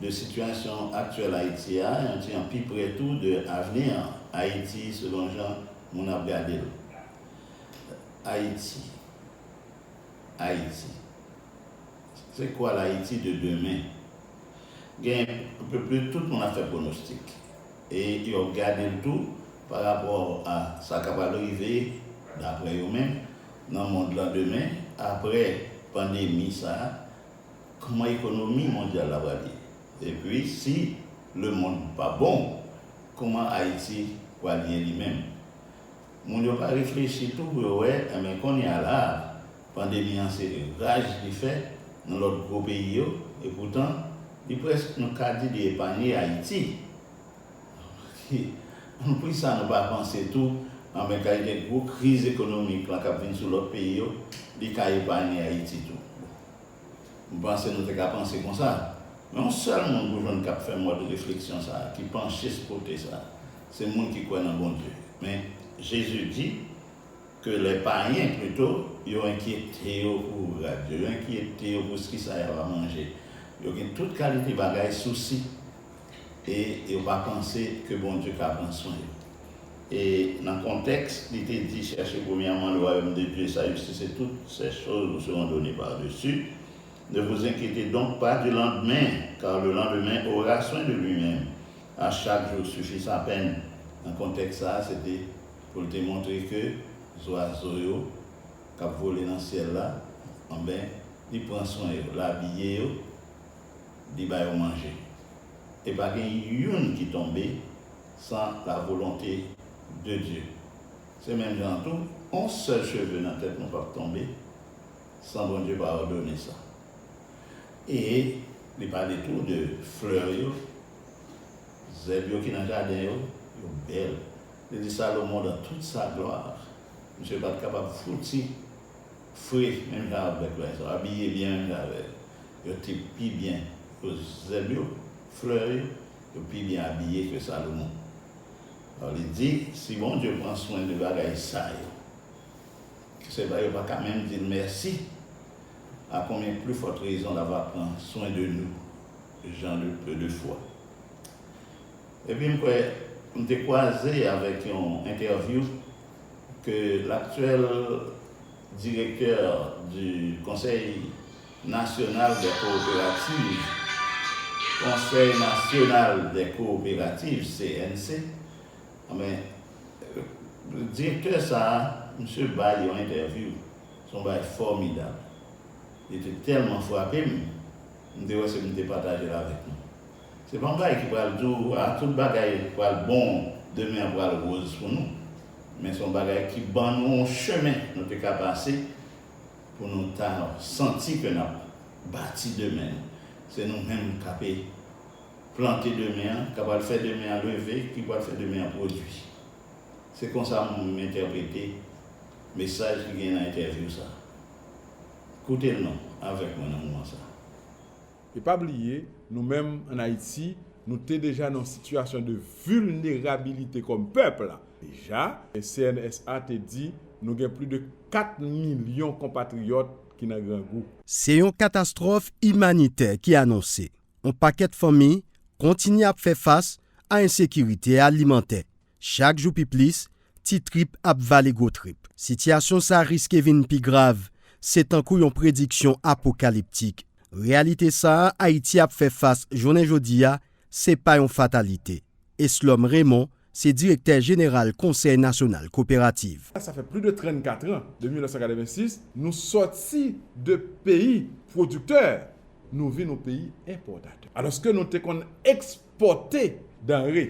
de sitiyasyon aktyèl Ayiti a, yon ti jan pi pre tou de avni an, Ayiti selon jan moun ap gade l. Ayiti. Ayiti. Se kwa l'Ayiti de demen? Gen anpeplus tout moun ap fè pwonostik e yo ap gade l tou pa rapò a sa ka pral rive daprè yo menm nan mond lan demen apre pandemi sa Kman ekonomi mondyal la pral ye? Epi si lemond pa bon, kman Ayiti pral ye li menm? Moun yo pa reflechi tou pou yo wè, enben konnya la a, pandemi an se raj li fè nan lòt gwo peyi yo, epoutan li prèsk nou ka di li epanye Ayiti. Poukisa nou pa panse tou, anben kalite gwo kriz ekonomik la k ap vin sou lòt peyi yo, li ka epanye Ayiti tou? M panse nou te ka panse konsa. Men yon sèl moun pou jwenn k ap fè mòd refleksyon sa a, ki panche sou kote sa a, se moun ki kwè nan Bondye. Men, Jezi di ke lè payen, pito, yo enkyete yo pou rad yo, yo enkyete yo pou s ki sa y ava manje, yo gen tout kalite bagay sousi. e yo pa panse ke Bondye ka pran swen yo. E nan kontèks li te di chèche premyèman le wayom de Dye e sa jistis e tout sè choz vou seron done par desu, ne vou zenkyete donk pa di landmen kar le landemen ora swen de lui menm, a chak jou sufi sa pèn, nan kontèks sa a se te pou l te montre ke zwazo yo k ap vole nan syèl la, anben li pran swen yo, l abiye yo, li ba yo manje. E pa gen youn ki tonbe san la volonte de Dye. Se menm jan an tou, on sèl cheve nan tèt nou pap tonbe san Bondye pa òdone sa. E li pale tou de flè yo, zèb yo ki nan jaden yo, yo bèl. Li di Salomon dan tout sa glwa, misye pat kapab fouti fre menm jan avèk l, abiye byen menm jan avè l. Yo te pi byen koz zèb yo, flè yo, yo pi byen abiye ke Salomon. Alò li di, si Bondye pran swen de bagay sa yo, ke se pa yo pa ka menm di l mèsi, a konbyen pli fòt rezon la va pran swen de nou, jan de peu de foi. Epi m kwè m te kwaze avèk yon entèvyou ke laktyèl direktè du Conseil Nasyonal dè Kowoperativ, Konsèy Nasyonal dè Kowoperativ, CNC, anben, direktè sa a, misye bay yon entèvyou, se yon bagay fòmidab. Li te tèlman frape m, m te wè se pou m te pataje l avèk nou. Se pa yon bagay ki pral di w, a, tout bagay pral bon, demen an pral woz pou nou, men se yon bagay ki ban nou yon chemen nou te ka pase, pou nou ta santi ke n ap bati demen n. Se nou menm k ape plante demen an, k apral fè demen an leve, ki pral fè demen an pwodui. Se konsa m entèprete mesaj ki gen nan entèvyou sa a. Koute l non avèk mwen nan moman sa a. E pa bliye, nou menm ann Ayiti, nou te deja nan yon sitiyasyon de vilnerabilite kòm pèp. Deja, CNSA te di nou gen pli de 4 milyon konpatriyòt ki nan grangou. Se yon katastwòf imanitè ki anonse. On pakèt fanmi kontinye ap fè fas a ensekirite alimantè. Chak jou pi plis, ti trip ap vale gwo trip. Sitiyasyon sa riske vin pi grav, se tankou yon prediksyon apokaliptik. Reyalite sa a Ayiti ap fè fas jounen jodi a se pa yon fatalite. Eslòm Remon se direktè jeneral Konsèy nasyonal koperativ. Sa fè plis de 34 an, depi 1986, nou sòti de peyi pwodiktè, nou vin yon peyi enpòtatè. Alòske nou te konn ekspòte danre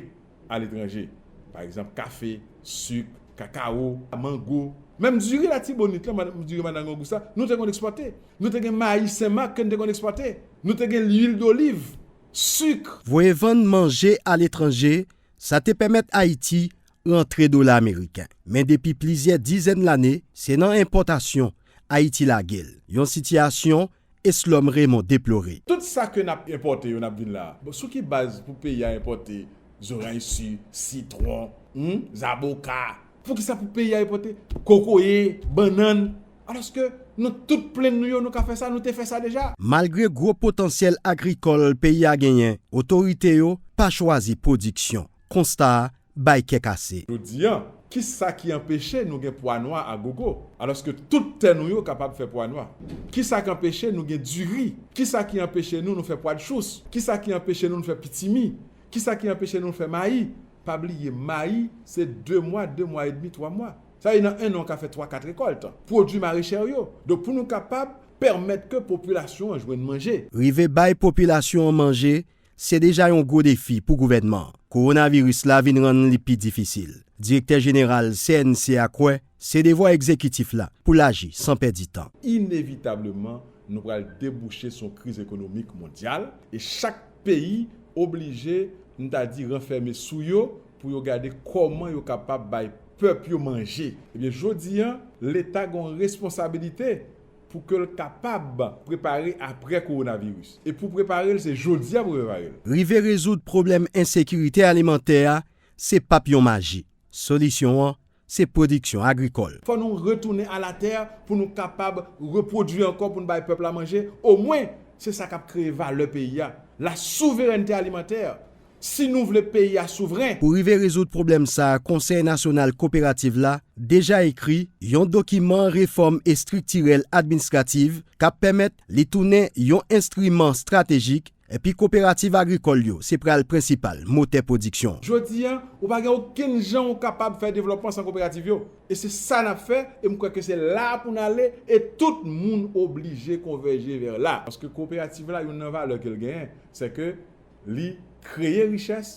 aletranje, pa egzanp kafe, sik, kakawo, mango, menm diri Latibonit lan, diri Madange Augusta, nou te konn ekspòte. Nou te gen mayi Sen Mak ke nou te konn ekspòte. Nou te gen lwil doliv. suk. Voye vann manje aletranje, sa te pèmèt Ayiti rantre dola ameriken. Men depi plizyè dizèn lane, se nan enpòtasyon Ayiti lage l, yon sitiyasyon Eslòm Remon deplore. Tout sa ke n ap enpòte yo n ap vin la, bon sou ki baz pou peyi a enpòte zoranj si, sitwon, humm, zaboka, Poukisa pou peyi a enpòte kokoye, bannann, alòske nan tout plenn nou yo nou ka fè sa, nou te fè sa deja? Malgre gwo potansyèl agrikòl peyi a genyen, otorite yo pa chwazi pwodiksyon. Konsta a bay kè kase. Jodi a, ki sa ki anpeche nou gen pwa nwa a gogo, alòske tout tè nou yo kapab fè pwa nwa? Ki sa k anpeche nou gen diri? Ki sa ki anpeche nou nou fè pwadchous? Ki sa ki anpeche nou nou fè pitimi? Ki sa ki anpeche nou nou fè mayi? Pa bliye mayi se 2 mwa, 2 mwa edmi, 3 mwa. Sa vle di nan 1 an ou ka fè 3, 4 rekòlt. Pwodui marechè w yo. Donk pou nou kapab pèmèt ke popilasyon an jwenn manje. Rive bay popilasyon an manje se deja yon gwo defi pou gouvènman an. Kowonaviris la vin rann li pi difisil. Direktè jeneral CNC a kwè Se devwa egzekitif la pou l aji san pèdi tan. Inevitableman, nou pral debouche sou yon kriz ekonomik mondyal e chak peyi oblije, m ta di, ranfème sou yo pou yo gade kòman yo kapab bay pèp yo manje. Ebyen, jodi a, Leta gen yon responsabilite pou ke l kapab prepare aprè kowonaviris. E pou prepare l, se jodi a pou prepare l. Rive rezoud pwoblèm ensekirite alimantè a, se pap yon maji. Solisyon an, se pwodiksyon agrikòl. Fò nou retounen a la tè pou nou kapab repwodui ankò pou n bay pèp la manje, omwen se sa k ap kreye valè peyi a, la souverènte alimantè, si nou vle peyi a souvren. Pou rive rezoud pwoblèm sa a Konsèy nasyonal koperativ la deja ekri yon dokiman refòm estriktirèl adminstrativ k ap pèmèt li tounen yon enstriman stratejik Epi koperativ agrikòl yo se pral prensipal motè pwodiksyon. Jodi a, ou pa gen okenn jan ou kapab fè devlòpman san koperativ yo. E se sa n ap fè, e m kwè ke se la a pou n ale, e tout moun oblije konvèje vè la. Paske koperativ la, youn nan valè ke l genyen, se ke li kreye richès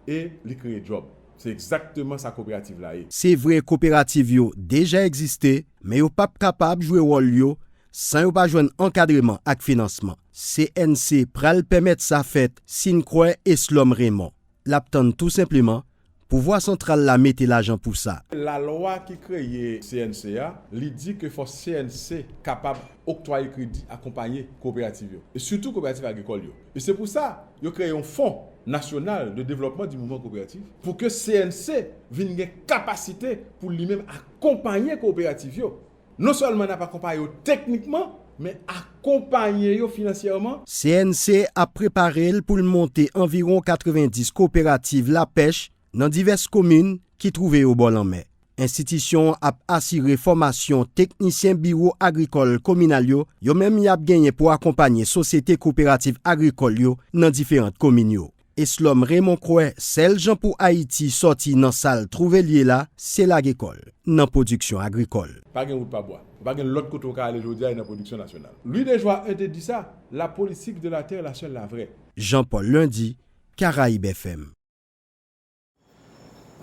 e li kreye djòb. Se egzakteman sa koperativ la ye. Se vre koperativ yo deja egziste, men yo p ap kapab jwe wòl yo San yo pa jwenn ankadreman ak finansman, CNC pral pèmèt sa fèt si n kwè Eslòm Remon. L ap tann tou senpleman pouvwa santral la mete lajan pou sa. Lalwa ki kreye CNC a, li di ke fò CNC kapab oktwaye kredi, akonpaye koperativ yo, e sitou koperativ agrikòl yo. E se pou sa, yo kreye yon Fon Nasyonal de Devlòpman di Mouvman Koperativ pou ke CNC vin gen kapasite pou li menm akonpaye koperativ yo. Non sèlman n ap akonpaye yo teknikman, men akonpaye yo finansyèman. CNC ap prepare l pou l monte anviwon 90 koperativ lapèch nan divès komin ki twouve yo bò lanmè. Enstitisyon an ap asire fòmasyon teknisyen biwo agrikòl kominal yo, yo menm y ap genyen pou akonpanye sosyete koperativ agrikòl yo nan diferant komin yo. Eslòm Remon kwè sèl jan pou Ayiti sòti nan sa l twouve l ye la se lage kò l nan pwodiksyon agrikòl. Pa gen wout pa bwa. Pa gen lòt kote w ka ale jodi a e nan pwodiksyon nasyonal. Lwi Dejwa I te di sa, La politique de la terre la seule la vraie. Jean Paul Lundy, Caraibes FM.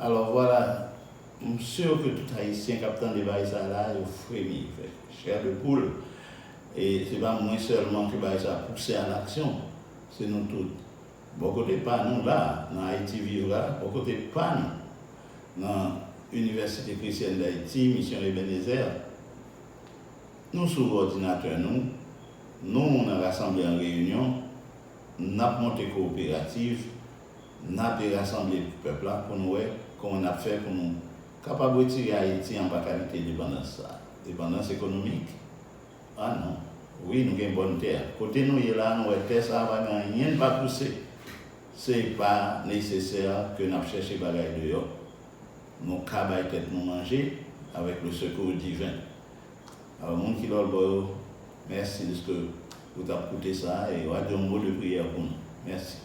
Alors voilà, m sur ke tout Ayisyen kap tande baay sa la yo fremi, yo fè chair de poule e se pa mwen sèlman ke baay sa pouse a l'action, se nou tout. Bò kote pa nou la nan Haïti Vive la, bò kote pa nou nan Université Chrétienne d'Haïti, Mission Ebenezer, nou sou òdinatè nou, nou nan rasanble an reyinyon, nap monte kooperativ, Nape rasanble pou pèp la pou nou wè kòman nap fè pou nou kapab retire Ayiti anba kalite depandans sa. Depandans ekonomik? Ah non. Wi nou gen bòn tè. Kote nou ye la nou wè tè sa pa gen anyenn pa pouse. Se pa nesesè ke nap chèche bagay deyò. Nou ka bay tèt nou manje avèk le sekou diven. Alò moun ki lòlbò yo, mèsi deske ou tap koute sa e wa di yon mo de priyè pou nou. Mèsi.